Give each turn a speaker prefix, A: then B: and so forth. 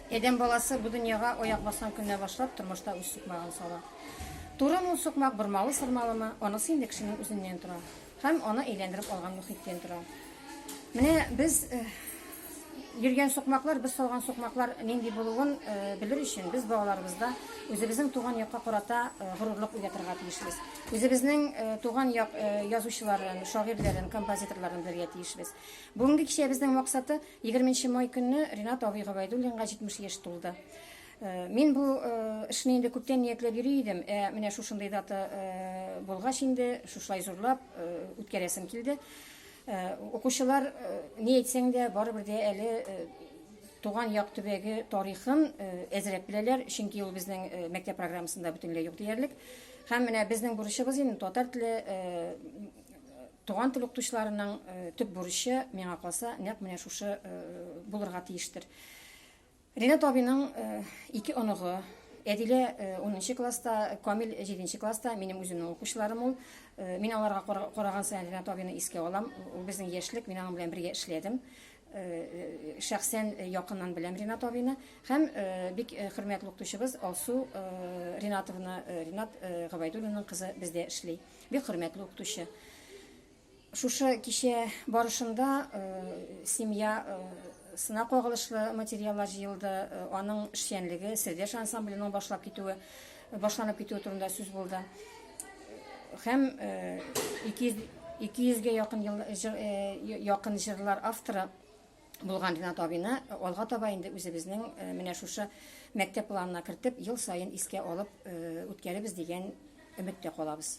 A: Адәм баласы бу дөньяга аяк баскан көннән башлап тормышта үз сукмагын сала. Турымы ул сукмак, бормалы-сырмалымы, анысы инде кешенең үзеннән тора һәм аны әйләндереп алган мөхиттән тора. Менә без э, йөргән сукмаклар, без салган сукмаклар нинди булуын э, белер өчен без балаларыбызда үзебезнең туган якка карата э, горурлык уятырга тиешбез. Үзебезнең туган як язучыларын, шагыйрьләрен, композиторларын белергә тиешбез. Бүгенге кичәбезнең максаты – Егерменче май көнне Ринат абый Габайдуллинга 70 яшь тулды. Э, мин бу э, эшне инде күптән ниятләп йөри идем, ә менә шушындый дата э, булгач инде шушылай зурлап үткәрәсем килде. Укучылар ни әйтсәң дә барыбер дә әле туган як төбәге тарихын әзрәп беләләр, чөнки ул безнең мәктәп программасында бөтенләй юк диярлек. Һәм менә безнең бурычыбыз инде татар теле Туган тел укытучыларының төп бурычы, миңа калса, нәкъ менә шушы булырга тиештер. Ринат абыйның ике оныгы, Әдилә унынчы класста, Камил җиденче класста, минем үземнең укучыларым ул. Мин аларга караган саен Ринат абыйны искә алам. Ул безнең яшьлек, мин аның белән бергә эшләдем. Шәхсән якыннан беләм Ринат абыйны һәм бик хөрмәтле укытучыбыз Алсу Ринатовна, Ринат Гобәйдуллинның кызы бездә эшли. Бик хөрмәтле укытучы. Шушы кичә барышында э, семья э, сына кагылышлы материаллар җыелды, э, аның эшчәнлеге, Сердеш ансамбленең башлап китүе, башланып китүе турында сүз булды. Һәм 200 200 ге якын ел, якын җырлар авторы булган Ринат абыйны алга таба инде үзебезнең менә шушы мәктәп планына кертеп, ел саен искә алып үткәребез дигән өметтә калабыз.